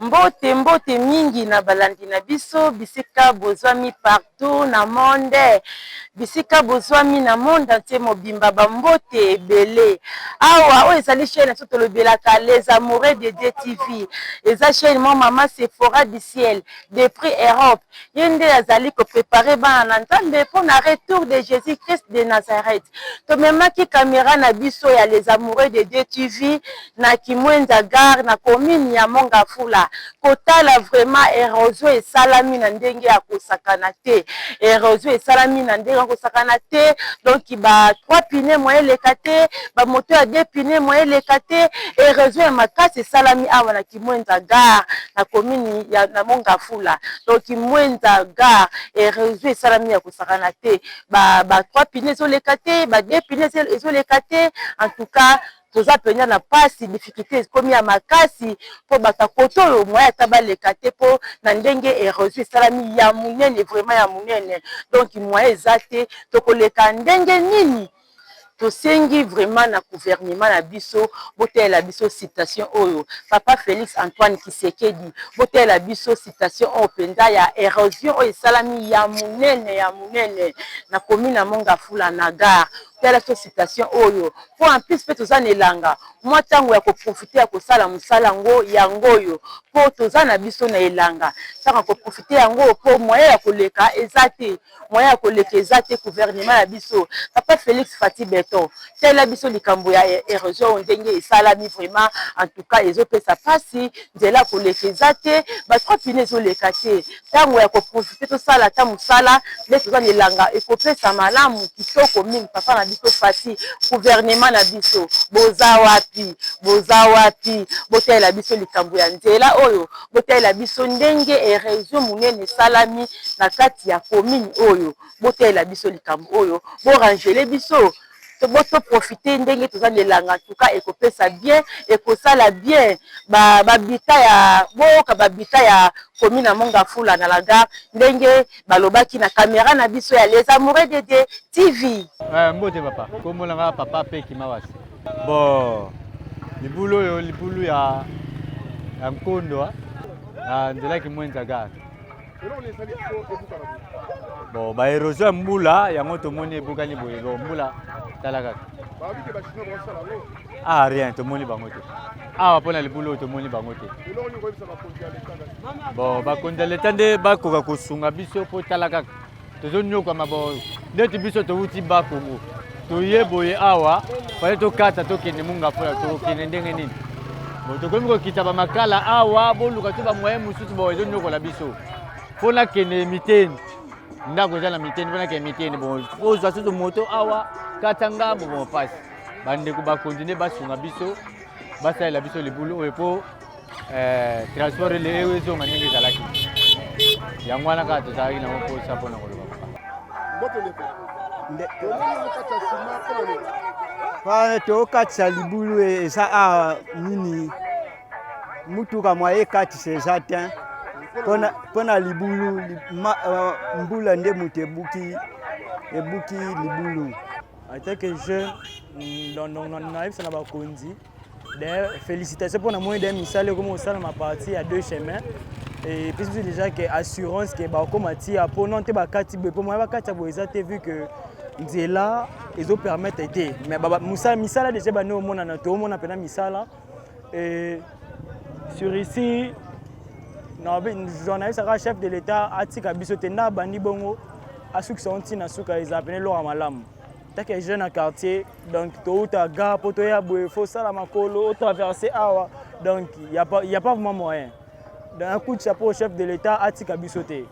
Mbote mbote mingi na balandi na biso bisika bozwami partout na monde bisika bozwami na monde entier mobimba ba mbote ebele awa oyo ezali chaine nabiso tolobelaka les amoureux de Dieu TV eza chaine mwa mama Sephora du ciel depuis Europe ye nde azali ko preparer bana na nzambe pona retour de Jesus Christ de Nazareth. Tomemaki camera na biso ya les amoureux de Dieu TV na Kimuenza gare na commune ya Mongafula kotala vraiment erosion esalami na ndenge ya kosakana te, erosion esalami na ndenge ya kosakana te donc ba trois pneus moyen eleka te, ba moto ya deux pneus moyen eleka te, erosion ya makasi esalami awa na Kimwenza gare na commune ya na mont Ngafula donc Kimwenza gare heureusement esalami ya kosakana te ba trois pneus ezoleka te ba deux pneus ezoleka te en tout cas toza mpenza na mpasi difficulte ekomi ya makasi mpo bato ya kote oyo moyen ata baleka te mpo na ndenge heureusement esalami ya monene vraiment ya monene donc moyen eza te tokoleka ndenge nini Tosengi vraiment na gouvernement na biso botalela biso citation oyo papa Felix Antoine kisekedi botalela biso citation oyo penza ya erosion oyo esalami ya munene ya munene na commune ya mongafula na gare tala biso citation oyo po en plus pe toza na elanga mua tango ya ko profiter ya kosala musala yango yango oyo po toza na biso na elanga tango ya ko profiter yango po moyen ya koleka eza te. moyen ya koleka eza te gouvernement ya biso papa felix fathi beton tela biso likambo ya erosion oyo ndenge esalami vraiment en tout cas ezopesa pasi nzela ya koleka eza te ba trois pine ezoleka te ntango ya koprofite tosala ata mosala nde toza na elanga ekopesa malamu kitoko mingi papa na biso fathi gouvernement na biso boza wapi boza wapi botalela biso likambo ya nzela oyo botalela biso ndenge eresion monene esalami na kati ya commune oyo botalela biso likambo oyo borangele biso boto profite ndenge toza na elanga tuka ekopesa bien ekosala bien babita ya boyoka babita ya commune ya mongafula na lagar ndenge balobaki na camera na biso ya les amoureux de Dieu TV. Eh, mbote papa, kombo na nga papa pe kimawasi. Bon, libulu oyo libulu ya ya nkondo ah. na nzela kimwenza gare. Bon, ba erosion ya mbula yango tomoni ebukani boye, bon mbula tala kaka. ah rien tomoni bango te awa mpo na libulu oyo tomoni bango te bon bakonzi ya leta nde bakoka kosunga biso mpo tala kaka tozonyokwama bo ndeti biso towuti bakongo toye boye awa fale tokata tokende munga mpola tokende ndenge nini bo tokomi kokita bamakala awa boluka to bamoye mosusu bo ezonyokola biso mpo nakende miteni ndako eza na miteni mpo nakende miteni bo ozwa susu moto awa kata ngambo bo mpasi bandeko bakontinue basunga biso basalela biso libulu oyo mpo eh, transport ele eyo ezonga ndenge ezalaki yango wana kaka tozalaki nango mposa mpo na koloba wana tokatisa libulu e, eza awa nini motuka mwa ekatisa eza te mpo na libulu eh, mbula nde moto ebuki ebuki libulu En tant que jeune, nayebisa na bakonzi d'ailleurs félicitation mpo na moi de misala ekomi kosalama parti ya deux chemin epesi biso déjà ke assurance ke bakokoma tia mpo non te bakati boye mpo moya bakati ya boye eza te vu que nzela ezopermettre te mais misala déjà bani omonana toomona mpena misala Et sur ici, journaliste aka chef de l'État atika biso te nda abandi bongo asukisa ntina suka eza pene eloko ya malamu take jeune na quartier donc touta ga mpo toya boye fo osala makolo otraverse awa donc il a pas vraiment moyen donc un coup de chapeau au chef de l'État atika biso te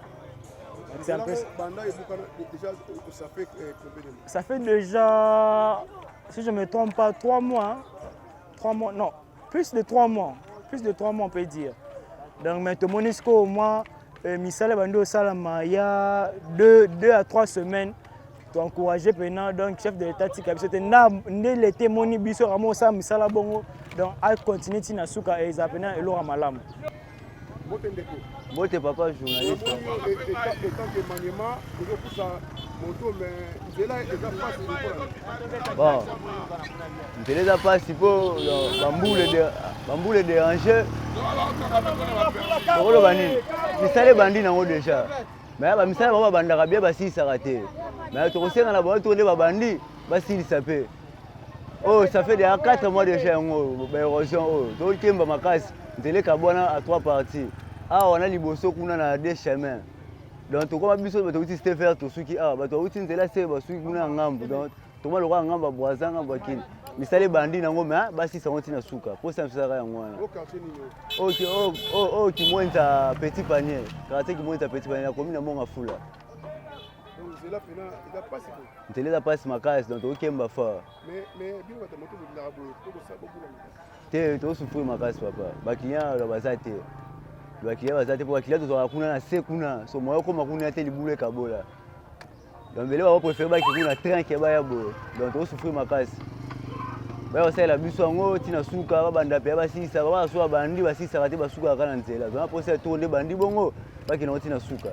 C'est un peu... déjà, ça fait euh, combien de mois Ça fait déjà, si je ne me trompe pas, trois mois. 3 mois non plus de 3 mois plus de 3 mois on peut dire donc mais tomoni sikoyo au moins euh, misala ebandi osalama ya 2 2 à 3 semaines toencourage mpena donc chef de l'état tika biso te nde leta emoni biso kama osala misala bongo donc acontinue ntina suka eza mpena eloko ya malamu Mbote ndeko. Mbote papa journaliste. Namoni etant etant que maniema ozo kusa moto mais nzela eza pasi lokola. Bon. Nzela eza pasi po bambule de bambule déranger. Okoloba nini? Misala ebandi nango déjà. Mais ba misala bango babandaka bien basilisaka te. Mais tokosenga na bango to nde babandi basilisa pe. oyo oh, ça fait déjà 4 mois déjà yango oyo baérosion oyo oh, tokemba makasi nzela ekabwana à 3 parties awa ah, wana liboso kuna na de chemin donc tokoma biso bato auti ste vert tosuki awa ah, bato auti nzela se basuki kuna ya ngambo donc tokoma lokola ngambo ya boisa ngambo ya kini misala ebandi nango me ah, basisa yango ntina suka mposa misaka yango wana oyo kimwenza petit panier karate kimwenza petit panier nakomi na monga fula nzela eza mpasi makasi donc tokokemba fort te tokosufri makasi papa bakilian baza te bakilian baza te mpo bakilian tozwaka kuna na se kuna so moya okoma kuna te libulu ekabola donc mbele bakoprefere baki kuna train ke baya boye donc tokosufri makasi baya basalela biso yango ntina suka babanda mpe basisa babasuka bandi basisaka te basukaka na nzela zona mposa to nde bandi bongo bakina ngo ntina suka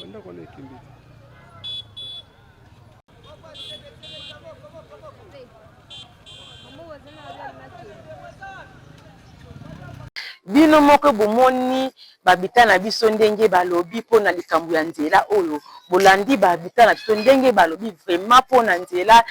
Banda kwa na kimbi. bino moko bomoni babita na biso ndenge balobi mpo na likambo ya nzela oyo bolandi babita na biso ndenge balobi vraiment mpo na nzela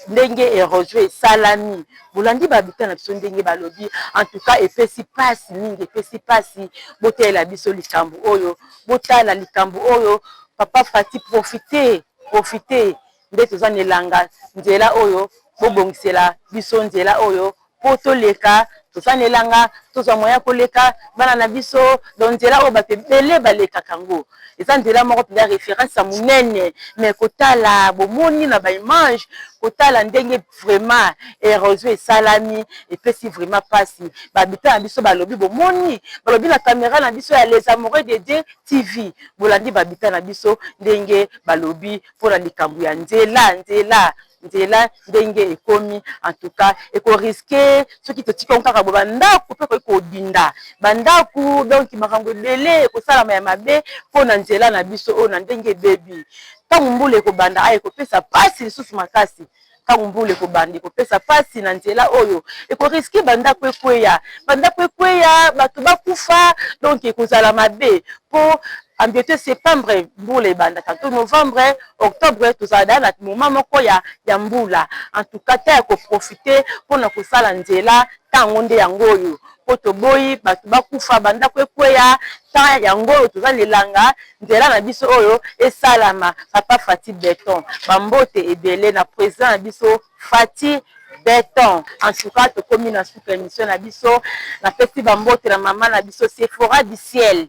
ndenge erosion esalami bolandi ba habitant na biso ndenge balobi en tout cas epesi pasi mingi epesi pasi botalela biso likambo oyo botala likambo oyo papa fati profite profite nde toza na elanga nzela oyo bobongisela biso nzela oyo po toleka tosalela nga tozwa moyen ya koleka bana na biso donc nzela oyo bato ebele balekaka yango eza nzela moko mpenza reference ya monene mais kotala bomoni na ba image kotala ndenge vraiment erosion esalami epesi vraiment pasi ba habitant na biso balobi bomoni balobi na camera na biso ya les amoureux de Dieu TV bolandi ba habitant na biso ndenge balobi mpo na likambo ya nzela nzela nzela ndenge ekomi en tout cas eko risque soki totiki yango kaka boye ba ndaku pe ekoki kobinda ba ndaku donc makambo ebele ekosalama ya mabe pona nzela na biso oyo na ndenge ebebi tangu mbula ekobanda awa ekopesa pasi lisusu makasi tangu mbula ekobanda ekopesa pasi na nzela oyo eko risque ba ndaku ekweya ba ndaku ekweya batu bakufa donc ekozala mabe po en beute septembre mbula ebanda tantot novembre. octobre tozala da na moma moko ya ya mbula entouka ta ya koprofite mpona kosala nzela ntango nde yango oyo mpo toboyi bato bakufa bandako ekweya ta yango oyo toza na elanga nzela na biso oyo esalama papa fati beton bambote ebele na president na biso fati beton entouka tokomi na suka emission na biso napesi bambote na mama na biso sefora du ciel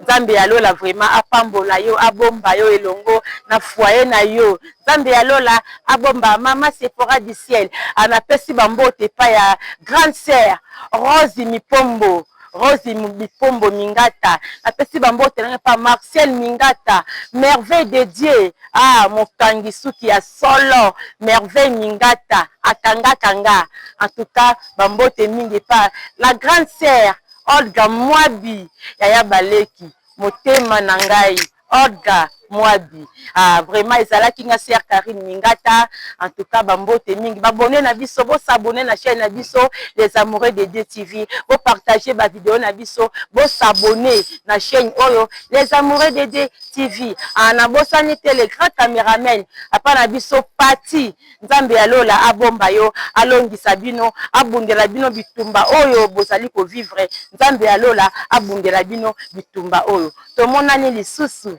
Nzambe ya lola vraiment apambola yo abomba yo elongo na foyer na yo Nzambe ya lola abomba maman Sephora du ciel a na pesi ba mbote epai ya grande sœur Rose Mipombo Rose Mipombo Mingata na pesi ba mbote na epai Martial Mingata merveille de Dieu ah mokangi suki ya solo merveille Mingata akangaka nga en tout cas ba mbote mingi epai la grande sœur Olga muabi yaya ba leki motema na ngai olga muabi ah vraiment ezalaki nga sœur carine mingata en tout cas ba mbote mingi ba abonnes na biso bo s'abonner na chaine na biso les amoureux de Dieu TV bo partager ba video na biso bo s'abonner na chaine oyo les amoureux de Dieu TV ah na bosani te le grand cameraman papa na biso pathy Nzambe ya lola abomba yo alongisa bino abundela bino bitumba oyo bozali ko vivre nzambe ya lola abundela bino bitumba oyo tomonani lisusu.